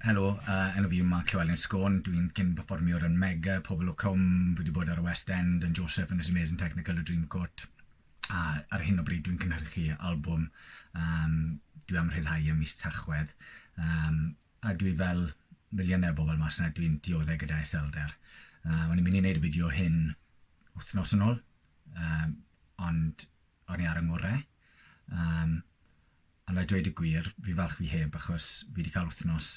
Helo, yy enw fi yw Mark Llewelyn Sgôn, dwi'n cyn perfformiwr yn Mega, Pobol o Cwm, fi wedi bod ar y West End yn Joseph yn y Symeon Technical a Dreamcoat a ar hyn o bryd dwi'n cynhyrchu albwm yym dwi am rhyddhau ym mis Tachwedd yym a dwi fel miliyne o bobol mas 'na dwi'n diodde gyda iselder. Yy o'n i'n mynd i neud y fideo hyn wthnos yn ôl yym ond o'n i ar y ngwre, yym ond a dweud y gwir, fi'n falch fi heb achos fi wedi cael wythnos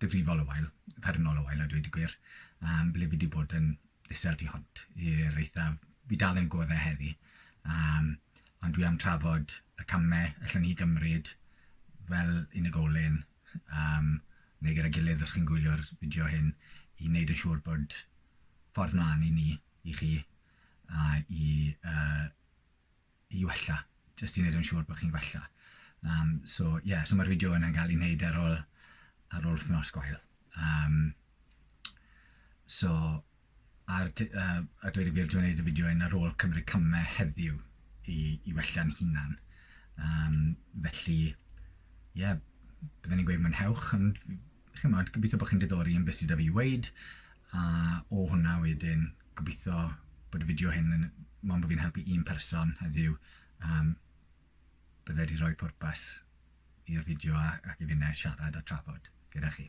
difrifol o wael, uffernol o wael a dweud y gwir, um, ble fi wedi bod yn isel tu hwnt i'r eithaf. Fi dal yn goddau heddi, um, ond dwi am trafod y camau allan ni gymryd fel unigolyn um, neu gyda gilydd os chi'n gwylio'r fideo hyn i wneud yn siŵr bod ffordd mlaen i ni, i chi, a i uh, i wella, jyst i wneud yn siŵr bod chi'n gwella. Um, so, ie, yeah, so mae'r fideo yna'n cael ei wneud ar ôl, ar ôl wythnos gwael. Um, so, ar, uh, a dweud y gwir, dwi'n gwneud y fideo yn ar ôl cymryd camau heddiw i, i wella'n hunan. Um, felly, ie, yeah, byddwn ni'n gweud mwynhewch, ond chimod, gobeithio bod chi'n diddori yn beth sydd 'da fi i weud, a o hwnna wedyn, gobeithio bod y fideo hyn yn... mond bod fi'n helpu un person heddiw, um, bydde wedi rhoi pwrpas i'r fideo a, ac i finne siarad a trafod gyda chi.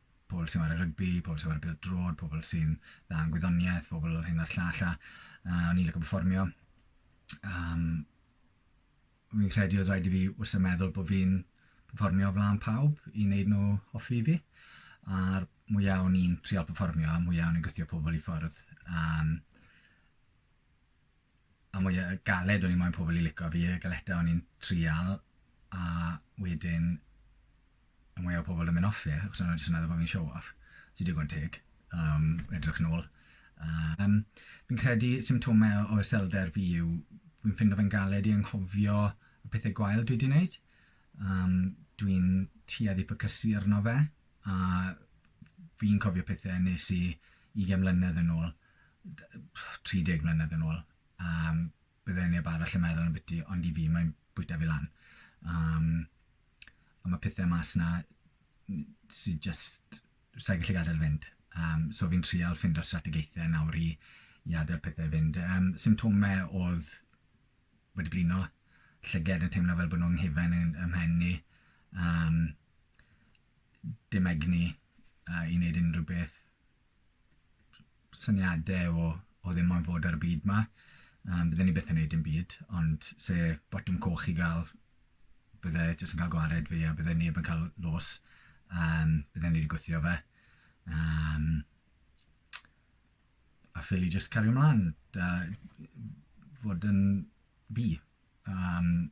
pobl sy'n chwarae rygbi, pobl sy'n chwarae pêl-drod, pobl sy'n dda yn gwyddoniaeth, pobl hyn a'r llall, a uh, o'n i'n lygo performio. Um, fi'n credu oedd rhaid i fi wrth y meddwl bod fi'n performio flaen pawb i wneud nhw hoffi fi. A'r mwyaf o'n i'n trial performio, a mwyaf o'n i'n gythio pobl i ffwrdd. Um, a mwy o galed o'n i moyn pobl i lico fi, y galeta o'n i'n trial, a wedyn y mwy o pobl yn mynd off fi, achos o'n nhw jyst yn meddwl bod fi'n show off, sy'n digon teg, um, edrych yn ôl. Um, fi'n credu symptomau o iselder fi yw, fi'n ffindo fe'n galed i anghofio y pethau gwael dwi wedi gwneud. Um, dwi'n tuedd i ffocysu arno fe, a fi'n cofio pethau nes i 20 mlynedd yn ôl, 30 mlynedd yn ôl, um, bydde neb arall yn meddwl yn biti, ond i fi mae'n bwyta fi lan. Um, a mae pethau mas na sy'n just, sa'n gallu gadael fynd. Um, so fi'n trial ffind o strategaethau nawr i, i adael pethau fynd. Um, symptomau oedd wedi blino, llyged yn teimlo fel bod nhw'n nghyfen yn ymhen ni, um, dim egni uh, i wneud unrhyw beth, syniadau o, o ddim ond fod ar y byd ma. Um, bydden ni beth yn neud yn byd, ond se botwm coch i gael, bydde jyst yn cael gwared fi a bydde neb yn cael los. Um, bydde ni wedi gwythio fe. Um, a ffili jyst cario mlaen, da, fod yn fi. Um,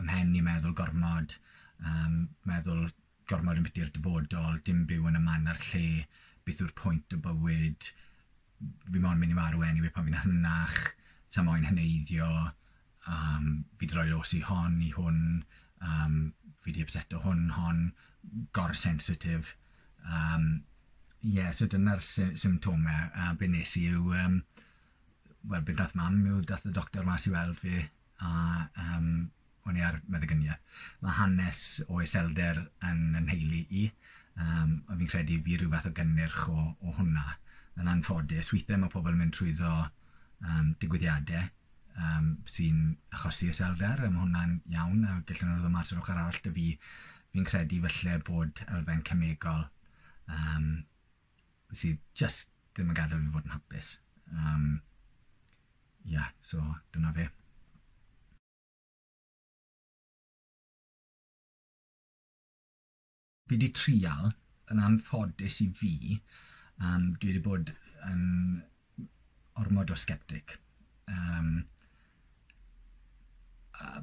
ym mhen i meddwl gormod, yym meddwl gormod ambiti i'r dyfodol, dim byw yn y man a'r lle, beth yw'r pwynt o bywyd, fi mond mynd i marw anyway pan fi'n hynach, sa moyn heneiddio, yym fi 'di roi los i hon, i hwn, yym fi 'di ypseto hwn, hon, gor-sensitif, yym ie so dyna'r sy- symptomau a be wnes i yw yym wel be ddaeth mam yw daeth y doctor mas i weld fi a yym o'n i ar meddyginiaeth. Mae hanes o iselder yn yn nheulu i, yym a fi'n credu fi ryw fath o gynnyrch o o hwnna. Yn anffodus, weithiau mae pobl yn mynd trwyddo yym digwyddiadau yym sy'n achosi iselder a ma' hwnna'n iawn a gellwn nhw ddod mas yr ochr arall 'da fi fi'n credu falle bod elfen cemegol yym sydd just ddim yn gadael fi fod yn hapus. Um, yeah, so dyna fe. Fi wedi trial, yn anffodus i fi, um, dwi wedi bod yn ormod o sceptic. Um,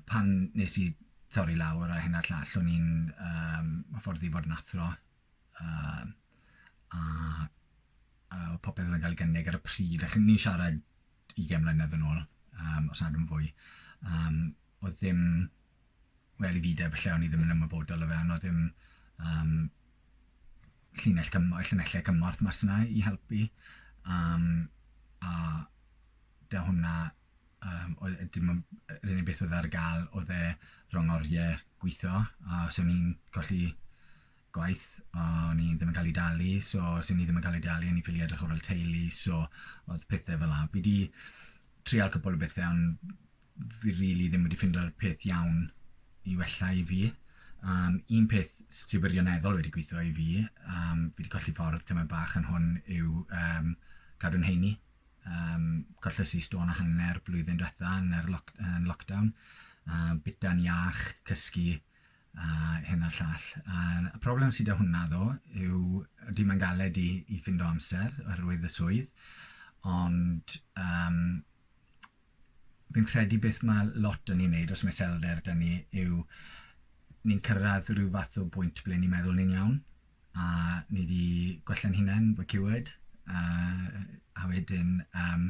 pan nes i torri lawr a hyn a'r llall, o'n i'n um, ffordd i fod yn athro a oedd popeth oedd yn cael ei gynnig ar y pryd, a ch'mod ni'n siarad ugain mlynedd yn ôl, yym os nad yn fwy, yym oedd ddim, wel i fi de falle o'n i ddim yn ymwybodol o fe, ond oedd ddim yym llinell cym- llinellau cymorth mas 'na i helpu, yym a 'da hwnna yym oedd e dim ond yr unig beth oedd ar ga'l oedd e rhwng oriau gwitho, a so o'n i'n colli gwaith o'n i ddim yn cael ei dalu so os o'n i ddim yn cael ei dalu o'n i'n ffili edrych ar ôl teulu so oedd pethe fel 'a. Fi 'di trial cwpwl o bethe on' fi rili ddim wedi ffindo'r peth iawn i wella i fi. Yym un peth s- sy wirioneddol wedi gwitho i fi yym fi 'di colli ffordd tymed bach yn hwn yw yym cadw'n heini yym colles i stôn a hanner blwyddyn dwetha yn yr lock- yn lockdown a bita'n iach, cysgu a hyn a'r llall. A'r problem sydd 'da hwnna ddo yw ydy mae'n galed i i ffindo amser oherwydd y swydd ond um, fi'n credu beth mae lot yn ei wneud os mae selder 'da ni yw ni'n cyrraedd rhyw fath o bwynt ble ni'n meddwl ni'n iawn a ni wedi gwella'n hunain, we're cured, uh, a wedyn um,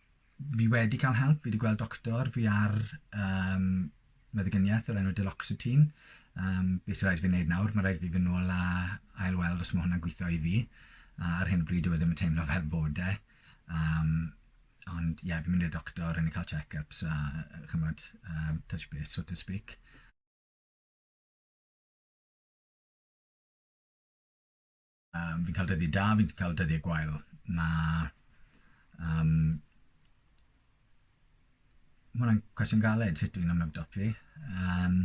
fi wedi cael help, fi wedi gweld doctor, fi ar um, meddyginiaeth o'r enw Deloxetine. Um, beth sy'n rhaid fi wneud nawr? Mae rhaid fi fy nôl a ail weld os mae hwnna'n gweithio i fi. A ar hyn o bryd, dwi e ddim yn teimlo fel bod e. Um, ond ie, yeah, fi'n mynd i'r doctor, yn ei cael check-ups a chymod, um, touch base, so to speak. Um, fi'n cael dyddiau da, fi'n cael dyddiau gwael. Mae... Um, Mae hwnna'n cwestiwn galed sut dwi'n ymwybdod fi. Um,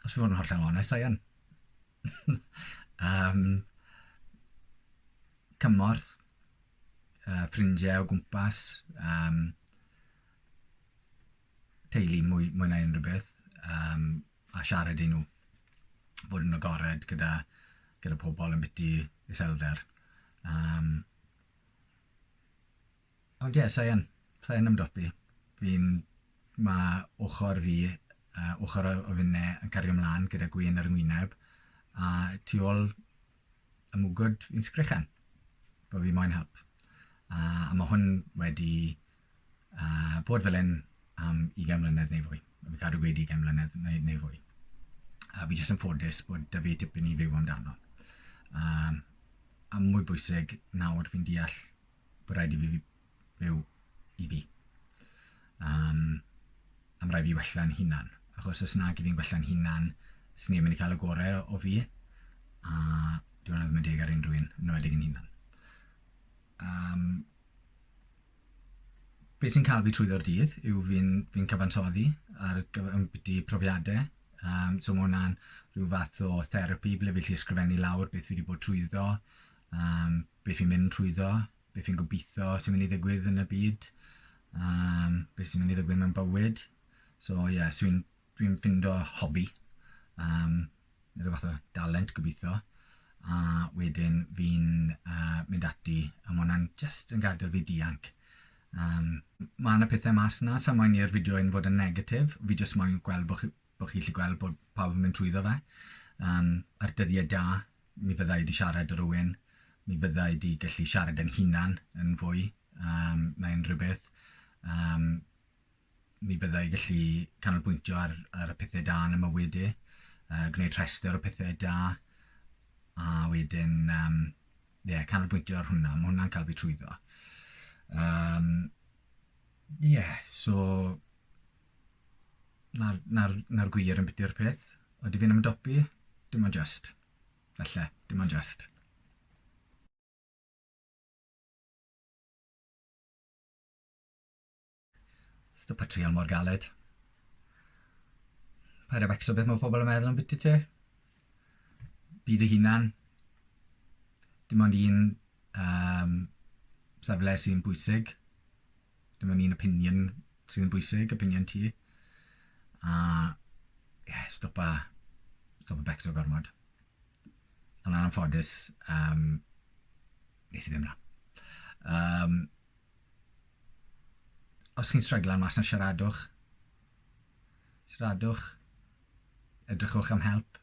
os fi'n fod yn hollol onest, Ian. um, cymorth, uh, ffrindiau o gwmpas, um, teulu mwy, mwy na unrhyw beth, um, a siarad i nhw. Bod yn agored gyda, gyda pobl yn biti iselder. Um, ond ie, yeah, sa'i yn, sa'i yn ymdopi. Fi'n, mae ochr fi, uh, ochr o finne yn cario ymlaen gyda gwyn ar y ngwyneb, a tu ôl y mwgwd fi'n sgrechen, bod fi moyn help. Uh, a mae hwn wedi a bod fel hyn am ugain mlynedd neu fwy. Fi'n cadw gweud ugain mlynedd neu, neu fwy. A fi jyst yn ffodus bod da fi tipyn i fyw amdano. Um, a mwy bwysig, nawr fi'n deall bod rhaid i fi fyw i fi. Um, am rhaid fi wella'n hunan. Achos os nag i fi'n gwella'n hunan, sy'n ni'n mynd i cael y gorau o fi, a dwi'n meddwl ddim yn deg ar unrhyw un, yn wedi yn hunan. Um, Be sy'n cael fi trwyddo'r dydd yw fi'n fi cyfansoddi ar gyfer ambiti profiadau. Um, so mae hwnna'n rhyw fath o therapi ble fi lli ysgrifennu lawr beth fi wedi bod trwyddo, um, beth fi'n mynd trwyddo, beth fi'n gobeithio sy'n mynd i ddigwydd yn y byd, um, beth sy'n mynd i ddigwydd mewn bywyd. So ie, yeah, so fi'n Dwi'n ffindo hobi, um, rhyw fath o dalent gobeithio, a wedyn fi'n uh, mynd ati, a mae hwnna'n just yn gadael fi dianc. Um, mae yna pethau mas yna, sa'n moyn i'r fideo yn fod yn negatif, fi just moyn gweld bod chi, bo chi allu gweld bod pawb yn mynd trwyddo fe. Um, ar dyddiau da, mi fyddai wedi siarad â rhywun, mi fyddai wedi gallu siarad yn hunan yn fwy um, na unrhyw beth. Um, mi fydda i gallu canolbwyntio ar, ar y pethau da yn y mywyd i, uh, gwneud rhestr o pethau da, a wedyn, um, yeah, canolbwyntio ar hwnna, mae hwnna'n cael fi trwyddo. Um, yeah, so, na'r, na na gwir yn biti'r peth, oeddi fi'n ymdopi, dim ond just, felly, dim ond just. Is the portrayal mor galed? Paid a becso beth mae pobl yn meddwl ambiti ti. Byd dy hunan. Dim ond un um, safle sy'n bwysig. Dim ond un opinion sy'n bwysig, opinion ti. A, ie, yeah, stopa, stopa becso gormod. Ond anffodus, um, nes i ddim na. Um, Os chi'n stryglan mas na siaradwch. Siaradwch. Edrychwch am help.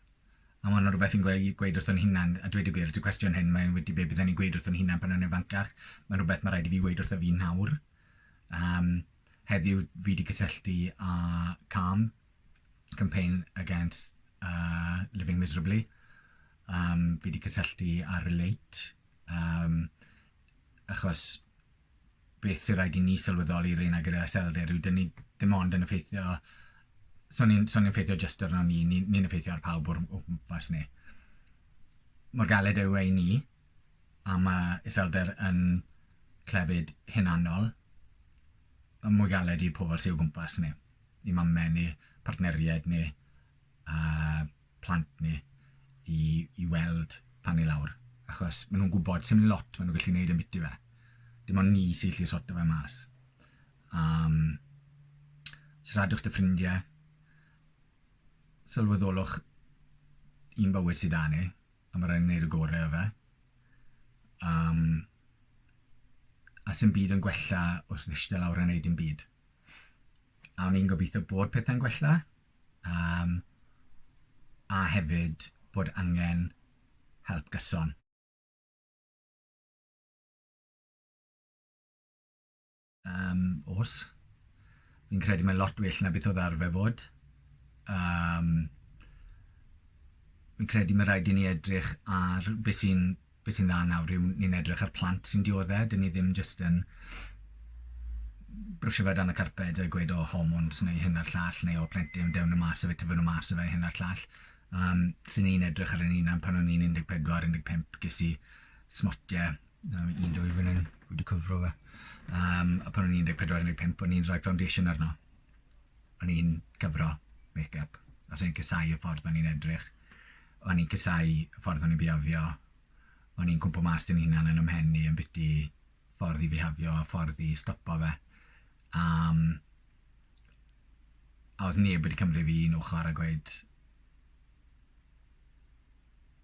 A mae'n rhywbeth i'n gweud, gweud wrthyn hunan, a dweud y gwir, y cwestiwn hyn, mae'n wedi be bydden ni'n gweud wrthyn hunan pan o'n i'n fancach. Mae'n rhywbeth mae rhaid i fi weud wrtho fi nawr. Um, heddiw fi wedi cysylltu â CAM, Campaign Against uh, Living Miserably. Um, fi wedi cysylltu â Relate, Um, achos beth sy'n rhaid i ni sylweddoli rhain ag yr aselder yw dyn ni ddim ond yn effeithio so ni'n so ni effeithio jyst arno ni, ni'n ni, ni effeithio ar pawb o'r o gwmpas ni. Mor galed yw ei ni, a mae iselder yn clefyd hunanol, y mwy galed i pobl sy'n o gwmpas ni, i mamau ni, partneriaid ni, a plant ni i i weld pan ni lawr achos ma' nhw'n gwybod sim lot ma' nhw'n gallu neud ambiti fe. Dim ond ni sy'n gallu sorto fe mas. Um, siaradwch dy ffrindie, sylweddolwch un bywyd sydd 'da ni a ma' raid ni neud y gore o fe. Um, a sim byd yn gwella wrth iste lawr a neud dim byd. A o'n i'n gobeithio bod pethau'n gwella yym a hefyd bod angen help gyson. Yym os. Fi'n credu mae lot well na beth oedd arfer fod. Yym fi'n credu mae rhaid i ni edrych ar beth sy'n be sy'n dda nawr yw ni'n edrych ar plant sy'n diodde', 'dyn ni ddim jyst yn brwsio fe o dan y carped a gweud o hormones neu hyn a'r llall neu o plentyn dewn nhw mas a fe tyfu nhw mas a fe hyn a'r llall. Um, so ni'n edrych ar ein hunan pan o'n i'n 14, 15, ges i smotie, um, un dwy fan hyn, wedi cyfro fe. Um, a pan o'n i'n 14, 15, o'n i'n rhoi foundation arno. O'n i'n cyfro make-up, a rhaid casau y ffordd o'n i'n edrych. O'n i'n casau ffordd o'n i'n bihafio, o'n i'n cwmpo mas 'da fy hunan yn 'y mhen i ambiti ffordd i fihafio a ffordd i stopo fe. A yym a o'dd neb wedi cymryd fi un ochor a gweud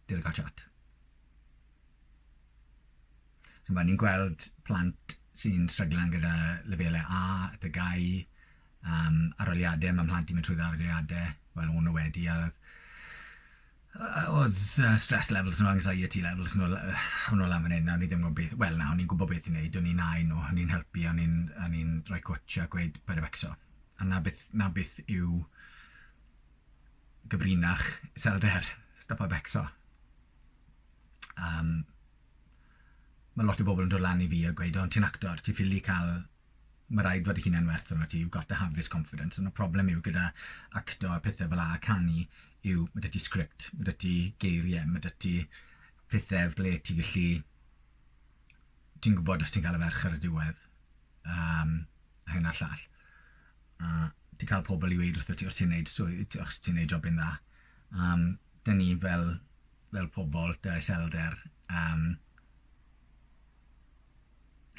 dere ca'l chat. Ch'mo' ni'n gweld plant sy'n stryglan gyda lefele A, tygau Yym, aroliade, mae mhlant i'n mynd trwy ddaroliade, wel o'n nhw wedi a oedd yy oedd yy stress levels nhw, anxiety levels nhw l- o'n nhw lan fan hyn a o'n i ddim yn gwybod beth, wel na, o'n i'n gwybod beth i wneud, o'n i'n nau nhw, o'n i'n helpu, o'n i'n o'n i'n rhoi cwtsh a gweud paid â becso. A 'na beth 'na beth yw gyfrinach iselder, stopa becso. Yym, ma' lot o bobl yn dod lan i fi a gweud o ti'n actor, ti ffili ca'l ma' raid fod y hunan werth arnot ti, you've got to have this confidence, ond y problem yw gyda acto a pethe fel 'a a canu yw ma' 'da ti sgript, ma' 'da ti geirie, ma' 'da ti pethe ble ti gallu ti'n gwbod os ti'n ca'l y ferch ar y diwedd yym a hyn a'r llall a ti'n ca'l pobol i weud wrthot ti os ti'n neud swydd t- os ti'n neud jobyn dda yym 'da ni fel fel pobol 'da iselder yym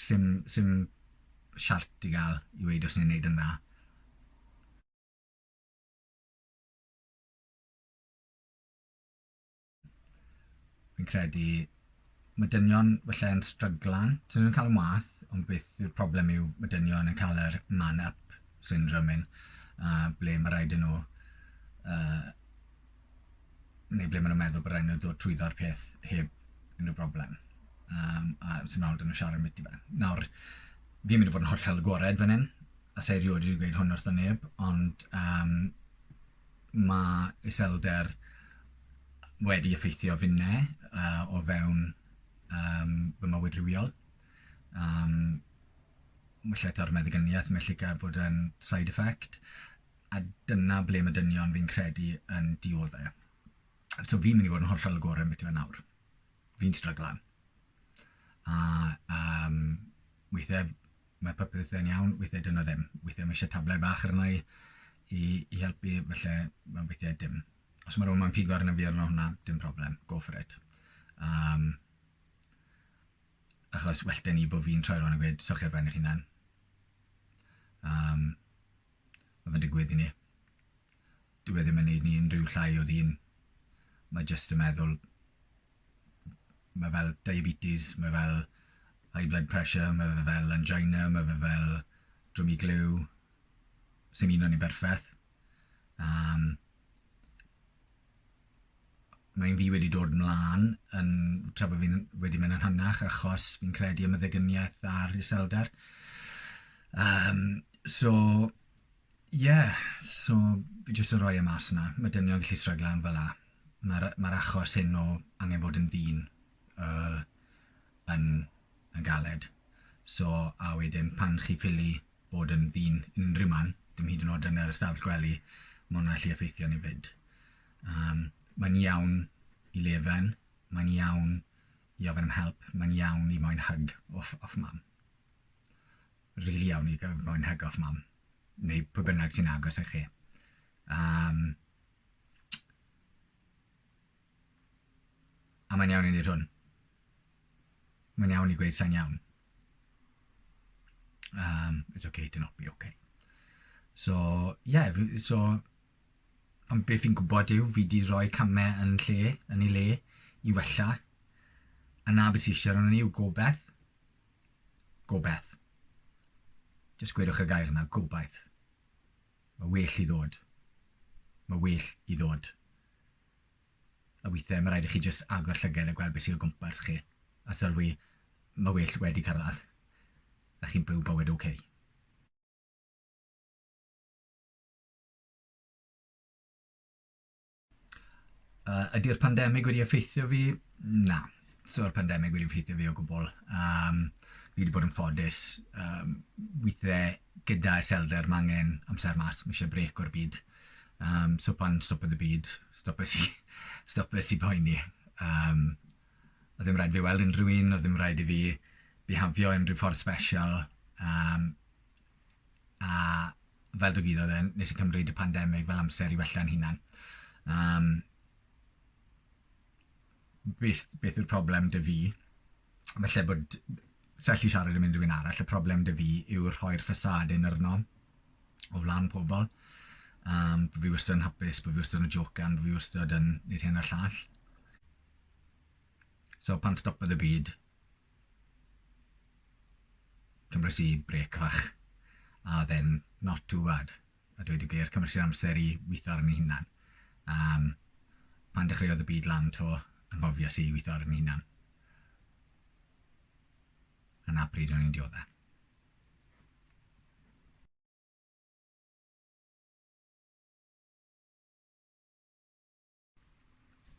Sim, sim siart i gael i weud os ni'n neud yn dda. Fi'n credu mae dynion felly yn stryglan, sy'n nhw'n cael ymwaith, ond beth yw'r problem yw mae dynion yn cael yr man up syndrome hyn, uh, ble mae rhaid yn nhw uh, neu ble maen nhw'n meddwl bod rhaid nhw ddod trwyddo'r peth heb unrhyw broblem. Um, a sy'n awr dyn nhw'n siarad ambiti fe. Nawr, fi'n mynd i fod yn hollol agored fan hyn, a sa'i rioed wedi gweud hwn wrth o neb, ond um, mae iselder wedi effeithio finne uh, o fewn um, fy mywyd rhywiol. Um, mae lle ta'r meddygyniaeth, mae lle gael bod yn side effect. a dyna ble mae dynion fi'n credu yn dioddau. So fi'n mynd i fod yn hollol agored am beth yw e nawr. Fi'n stryglan. A um, weithiau mae popeth yn iawn, weithiau dyna ddim. Weithiau mae eisiau tablau bach arna i i, i helpu, felly mae'n weithiau dim. Os mae rhywun mae'n pigo arna fi arno hwnna, dim problem, go for it. Um, achos well da ni bod fi'n troi rhywun yn gweud, sylch ar ben eich hunan. Um, Mae fe'n digwydd i ni. Dyw e ddim yn neud ni unrhyw llai o ddyn. Mae jyst yn meddwl... Mae fel diabetes, mae fel high blood pressure, mae fe fel angina, mae fe fel dwm i gliw. Sim un o ni'n berffeth. Yym. mae un fi wedi dod mlan yn tra bo' fi'n wedi mynd yn hynach achos fi'n credu y meddygynieth a'r iselder yym so ie so fi jyst yn rhoi e mas 'na ma' dynion gallu stryglan fel 'a ma'r yy ma'r achos hyn o angen fod yn ddyn yy yn yn galed so a wedyn pan chi ffili bod yn ddyn unrhyw man, dim hyd yn oed yn yr ystafell gwely, mae hwnna'n gallu effeithio ni fyd. Um, mae'n iawn i lefen, mae'n iawn i ofyn am help, mae'n iawn i moyn hyg off, off mam. Rili really iawn i gael moyn hyg off mam, neu pwy bynnag sy'n agos i chi. Um, A mae'n iawn i wneud hwn. Mae'n iawn i gweud sa'n iawn. Um, it's okay to not be okay. So, ie, yeah, so, ond beth fi'n gwybod yw, fi di roi camau yn lle, yn ei le, i wella. A na beth sy'n eisiau rhan yw gobeith. Gobeith. Just gwedwch y gair yna, gobeith. Mae well i ddod. Mae well i ddod. A weithiau mae rhaid i chi jyst agor llygad a gweld beth sydd o gwmpas chi. A sylwi, mae well wedi cyrraedd. A chi'n byw bywyd oce. Okay. Uh, ydy'r pandemig wedi effeithio fi? Na. So'r pandemig wedi effeithio fi o gwbl. Um, fi wedi bod yn ffodus. Um, weithiau gyda iselder m'angen amser mas m'ishe brêc o'r byd yym so pan stopodd y byd stopes i stopes i poeni yym o'dd ddim raid fi weld unrhyw un o'dd ddim raid i fi bihafio unrhyw ffordd sbeshal yym a fel dygwyddodd e nes i cymryd y pandemig fel amser i wella'n hunan yym beth beth yw'r problem 'da fi? falle bod... Sa i'n gallu siarad am unrhyw un arall, y problem 'da fi yw rhoi'r ffasâd hyn arno o flaen pobl, yym bo' fi wastad yn hapus, bo' fi wastad yn jocan, bo' fi wastad yn neud hyn a'r llall. So pan stopodd y byd, cymres i brêc fach, a o'dd e'n not too bad. a dweud y gwir, cymryd sy'n amser i weithio arni hunan. Um, pan dechreuodd y byd lan to, anghofias i weithio arni hunan. A na pryd o'n i'n dioddau.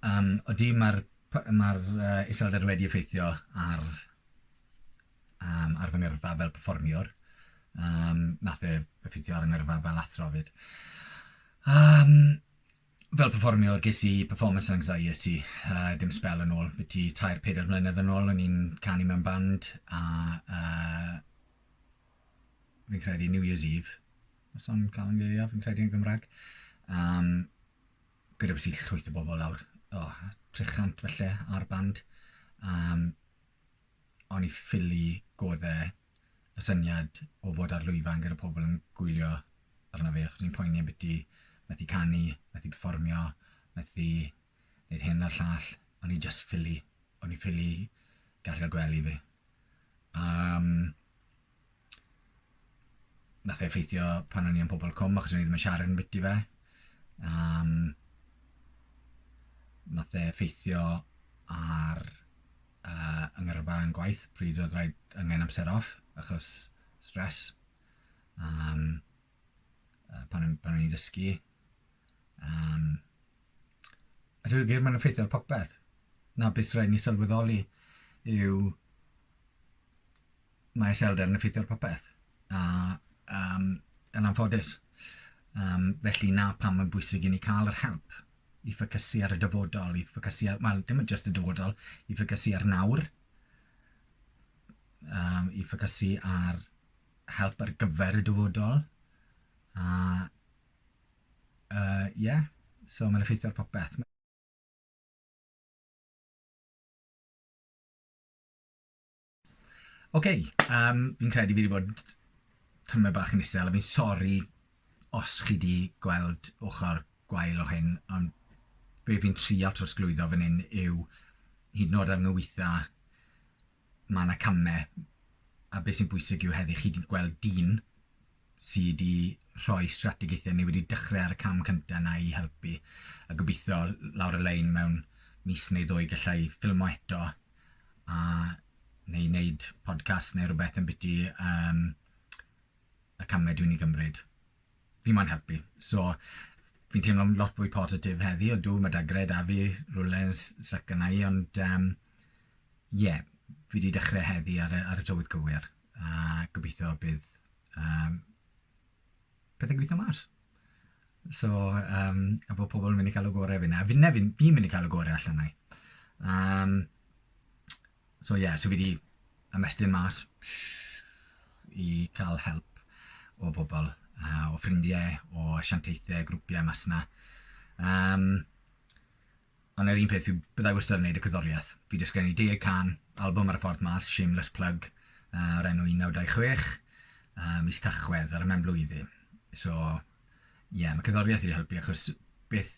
Yym, odi ma'r p- ma'r yy iselder wedi effeithio ar yym ar fy ngyrfa fel perfformiwr yym nath e effeithio ar 'y ngyrfa fel athro 'fyd. Yym fel perfformiwr ges i performance anxiety yy dim sbel yn ôl, biti tair peder mlynedd yn ôl o'n i'n canu mewn band a yy fi'n credu New Year's Eve, os o'n i'n ca'l 'yn ngeiriau fi'n credu yn Gymrag yym gyda beth sy'n llwyth o bobl nawr, oh, 300 felly ar band. Um, o'n i ffili goddau y syniad o fod ar lwyfan gyda pobl yn gwylio arno fi, achos ni'n poeni am beth i methu canu, methu performio, methu wneud hyn a'r llall. O'n i just ffili, o'n i ffili gallu gwely fi. Um, nath e effeithio pan o'n i yn pobol cwm achos o'n i ddim yn siarad yn biti fe. Um, nath e effeithio ar uh, yngyrfa yn gwaith pryd oedd rhaid angen amser off achos stres. Um, uh, pan, pan o'n i'n dysgu. Um, a dwi'n gwir mae'n effeithio ar popeth. Na beth rhaid ni sylweddoli yw mae iselder yn effeithio ar popeth, a um, yn anffodus. Um, felly na pam mae'n bwysig i ni cael yr help i ffocysu ar y dyfodol, i ffocysu ar, wel, dim ond just y dyfodol, i ffocysu ar nawr, um, i ffocysu ar help ar gyfer y dyfodol, a, uh, yeah, so mae'n effeithio ar popeth. Oce, yym, fi'n credu fi 'di bod tamaid bach yn isel, a fi'n sori os chi 'di gweld ochr gwael o hyn, ond be fi'n trio trosglwyddo fan hyn yw, hyd yn o'd ar nwytha, ma' 'na came, a be sy'n bwysig yw heddi chi 'di gweld dyn, sy 'di rhoi strategaethau ni wedi dechrau ar y cam cyntaf yna i helpu a gobeithio lawr y lein mewn mis neu ddwy gallai ffilmo eto a neu wneud podcast neu rhywbeth yn biti um, y camau dwi'n ei gymryd. Fi mo'n helpu. So, fi'n teimlo'n lot fwy positif heddi o dw, mae dagred a fi rhywle yn syc yna i, ond um, yeah, fi wedi dechrau heddi ar y, ar y tywydd cywir. A gobeithio bydd um, pethau'n gweithio mas. So, um, a bod pobl yn mynd i cael y gorau fi na. Fi, ne, fi'n fi mynd i cael y gorau allan na i. Um, so, ie, yeah, so fi wedi ymestyn mas i cael help o bobl, uh, o ffrindiau, o sianteithiau, grwpiau mas yna. Um, Ond yr un peth, fi... byddai wastad yn wneud y cerddoriaeth. Fi 'di ysgrifennu deg can albwm ar y ffordd mas, shameless plug, yy o'r enw un naw dau chwech, yy mis Tachwedd ar y mewnblwyddyn. So, ie, ma' cerddoriaeth wedi helpu achos beth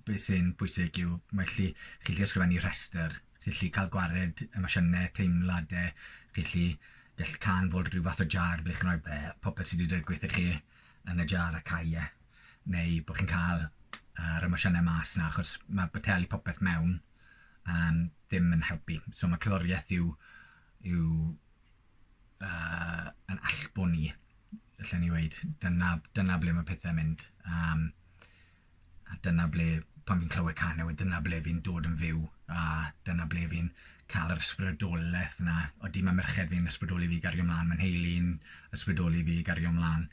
be' sy'n bwysig yw mae gallu chi gallu ysgrifennu rhestr, chi gallu ca'l gwared emosiyne, teimlade, chi gallu gell cân fod ryw fath o jar ble chi'n rhoi be- popeth sy' 'di digwydd i chi yn y jar a cau e. neu bod chi'n cael yr emosiynau mas 'na, achos mae boteli popeth mewn um, ddim yn helpu. So mae cerddoriaeth yw, yw uh, yn allbwn ni, allan ni weid. Dyna, dyna ble mae pethau mynd. Um, a dyna ble, pan fi'n clywed can newid, dyna ble fi'n dod yn fyw, a dyna ble fi'n cael yr ysbrydolaeth yna. Oeddi mae merched fi'n ysbrydoli fi gario mlaen, mae'n heili'n ysbrydoli fi gario mlaen.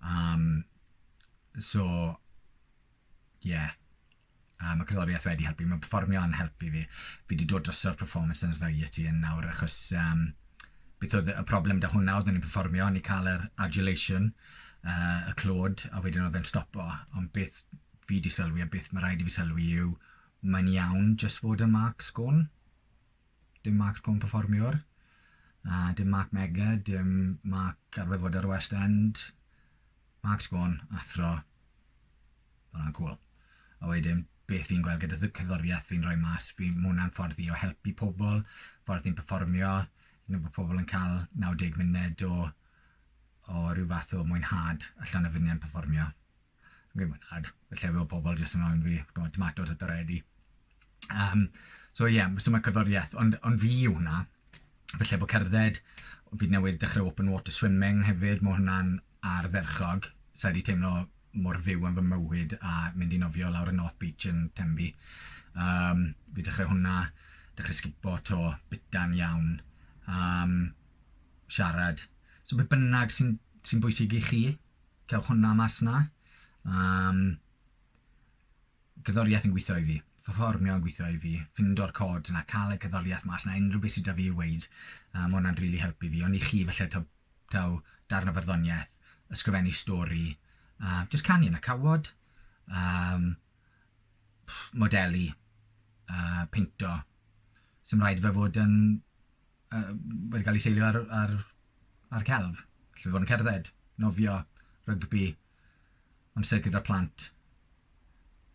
Um, So, ie. Yeah. A ma' cerddoriaeth wedi helpu. Ma' perfformio yn helpu fi. Fi 'di dod drosodd performance anxiety yn nawr achos yym beth oedd y problem 'da hwnna oedd o'n i'n perfformio o'n i'n ca'l yr adulation yy y clod a wedyn oedd e'n stopo ond beth fi 'di sylwi a beth ma' raid i fi sylwi yw mae'n iawn jyst fod yn Mark Scorn. Dim marc poen perfformiwr, a dim marc mega, dim marc arwybodau'r West End, marc sgôn, athro, mae hwnna'n cwl. A wedyn, beth fi'n gweld gyda cyddoriaeth fi'n rhoi mas, fi, mae hwnna'n ffordd fi o helpu pobl, ffordd fi'n perfformio, hyd bod pobl yn cael 90 munud o, o rhyw fath o mwynhad allan o fy perfformio. Fi'n mwynhad y llefydd o pobl jyst yn anfon fi t'mod tomatos a doretti. Yym so ie m- so ma' cerddorieth ond ond fi yw hwnna falle bo' cerdded fi newydd dechre open water swimming hefyd ma' hwnna'n ardderchog sai 'di teimlo mor fyw yn fy mywyd a mynd i nofio lawr y North Beach yn Tenby. Yym fi dechre hwnna dechre sgipo 'to bita'n iawn yym siarad so be' bynnag sy'n sy'n bwysig i chi cael hwnna mas na. Um, gyddoriaeth yn gweithio i fi, ffofformio yn gweithio i fi, ffindo'r cod na, cael y gyddoriaeth mas na, unrhyw beth sydd da fi i weid, um, mae hwnna'n rili really helpu fi. Ond i chi, felly, taw, taw darn o farddoniaeth, ysgrifennu stori, uh, just canu yn y cawod, um, modelu, uh, peinto. Sym rhaid fe fod yn uh, wedi cael ei seilio ar, ar, ar celf. Lle fod yn cerdded, nofio, rygbi, amser gyda plant,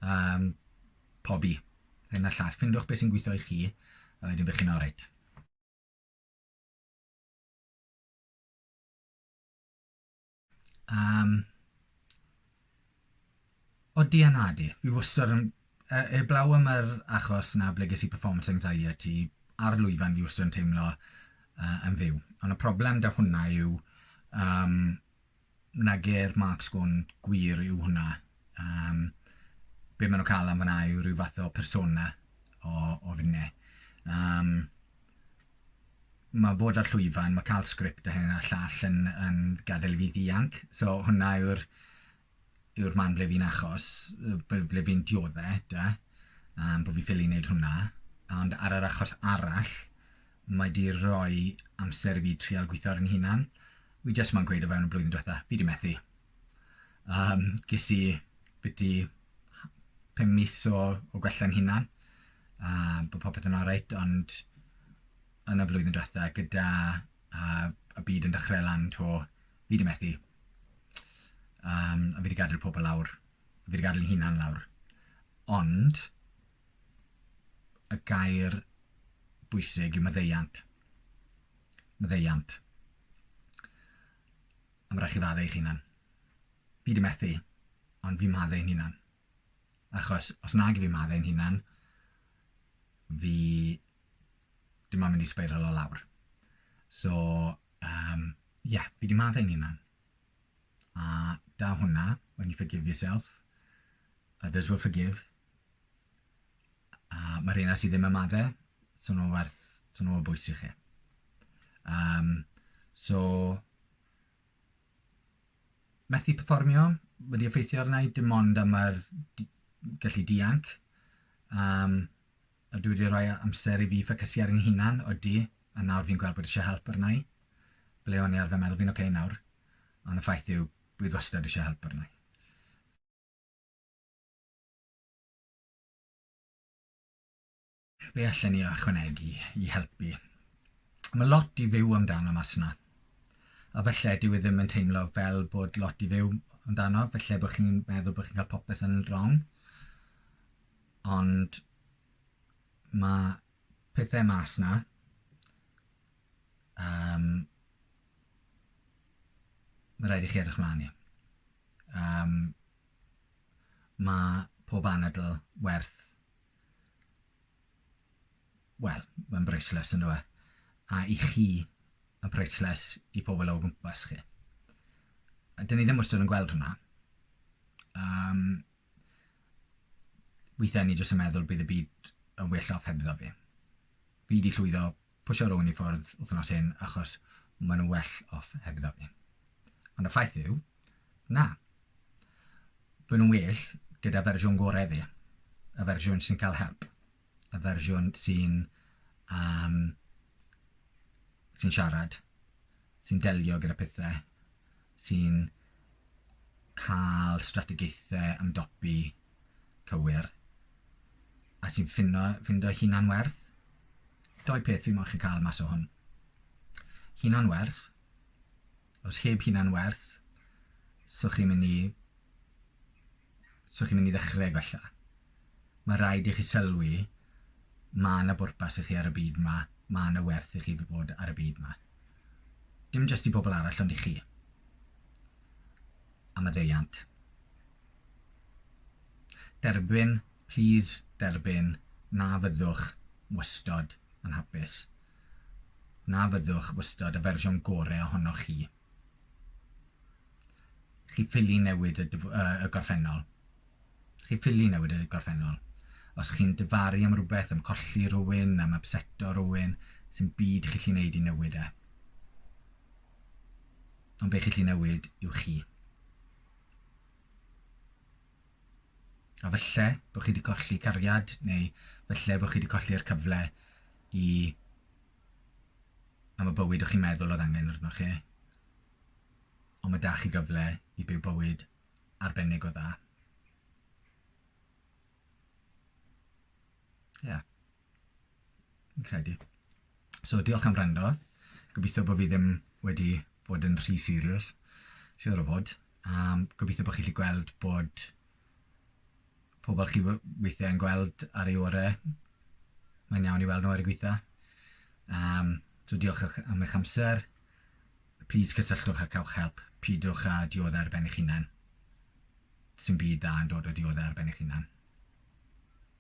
um, pobi, hyn a llall. Ffindiwch beth sy'n gweithio i chi, a wedyn bych chi'n oreit. Um, o di a na di. Fi wastad yn... Uh, e, eblaw am yr achos na ble ges i performance anxiety ar lwyfan fi wastad yn teimlo uh, yn fyw. Ond y problem da hwnna yw um, na ger Mark Sgwn gwir yw hwnna. Um, be maen nhw'n cael am fyna yw rhyw fath o persona o, o finne. Um, ma' bod ar llwyfan, ma' ca'l sgript a hyn a'r llall yn yn gadel i fi ddianc, so hwnna yw'r yw'r man ble fi'n achos yy b- ble fi'n diodde 'da yym bo' fi ffili neud hwnna, ond ar yr achos arall mae 'di roi amser i fi trial gwitho ar 'yn hunan, wi jyst moyn gweud o fewn y blwyddyn dwetha, fi 'di methu. Um, ges i byddu pum mis o, o gwella'n hunan, a bod popeth yn alright, ond yn y flwyddyn diwetha, gyda a, y byd yn dechrau lan to, fi wedi methu. Um, a fi wedi gadael pobl lawr, fi wedi gadael hunan lawr. Ond, y gair bwysig yw maddeiant. Maddeiant. A ma' rai' chi ddadde eich hunan. Fi 'di methu ond fi'n madde i'n hunan. Achos os nag 'yf fi'n madde i'n hunan fi dim ond mynd i sbeirilo lawr. So yym ie fi 'di madde i'n hunan. A 'da hwnna when you forgive yourself others will forgive. A ma' rheina sy ddim am adde, so nhw werth, so nhw o bwys i chi. Um, so, methu perfformio wedi effeithio arna i, dim ond am yr gallu dianc. Um, a dwi wedi rhoi amser i fi ffocysu ar yn hunan, odi, a nawr fi'n gweld bod eisiau help arna i. Ble o'n i arfer meddwl fi'n oce okay nawr, ond y ffaith yw, bydd wastad eisiau help arna i. Be allen ni ychwanegu i helpu? Mae lot i fyw amdano mas yna. A felly, dyw e ddim yn teimlo fel bod lot i fyw amdano, felly bod chi'n meddwl bod chi'n cael popeth yn wrong. Ond mae pethau mas yna um, mae rhaid i chi edrych mlaen i. Um, Mae pob anadl werth... wel, mae'n briceless yn dyw e? A i chi, mae'n priceless i pobl o gwmpas chi. A dyn ni ddim wastad yn gweld hwnna. Um, weithiau ni jyst yn meddwl bydd y byd yn well off hebddo fi. Fi wedi llwyddo Pwsio rhywun i ffwrdd wythnos hyn achos maen nhw'n well off hebddo fi. Ond y ffaith yw, na. Maen nhw'n well gyda fersiwn gorau fi. Y fersiwn sy'n cael help. Y fersiwn sy'n um, sy'n siarad, sy'n delio gyda pethau, sy'n cael strategaethau ymdopi cywir, a sy'n ffindo, ffindo hunan werth. Doi peth fi moyn chi cael mas o hwn. Hunan werth. Os heb hunan werth, so chi'n mynd i so chi'n mynd i ddechrau gwella. Mae rhaid i chi sylwi mae yna bwrpas i chi ar y byd yma, mae yna werth i chi fi bod ar y byd yma. Dim jyst i bobl arall ond i chi. a maddeuant. Derbyn, plîs derbyn, na fyddwch wystod yn hapus. Na fyddwch wystod y fersiwn gore ohonoch chi. Chi ffili newid y, y gorffennol. Chi ffili newid y gorffennol. Os chi'n dyfaru am rhywbeth, am colli rhywun, am abseto rhywun, sy'n byd chi lli wneud i newid e. Ond be chi'n lli newid yw chi. A falle bod chi wedi colli cariad neu falle bod chi wedi colli'r cyfle i am y bywyd o'ch chi'n meddwl oedd angen arnoch chi. Ond mae da chi gyfle i byw bywyd arbennig o dda. Ie. Yeah. Fi'n credu. So diolch am wrando. Gobeithio bod fi ddim wedi bod yn rhy serious. Siwr o fod. Um, gobeithio bod chi wedi gweld bod pobl chi weithiau yn gweld ar ei orau. Mae'n iawn i weld nhw ar y gweitha. Um, so diolch am eich amser. Please cysylltwch a cawch help. Pidwch â dioddau ar ben eich hunan. Sy'n byd da yn dod o dioddau ar ben eich hunan.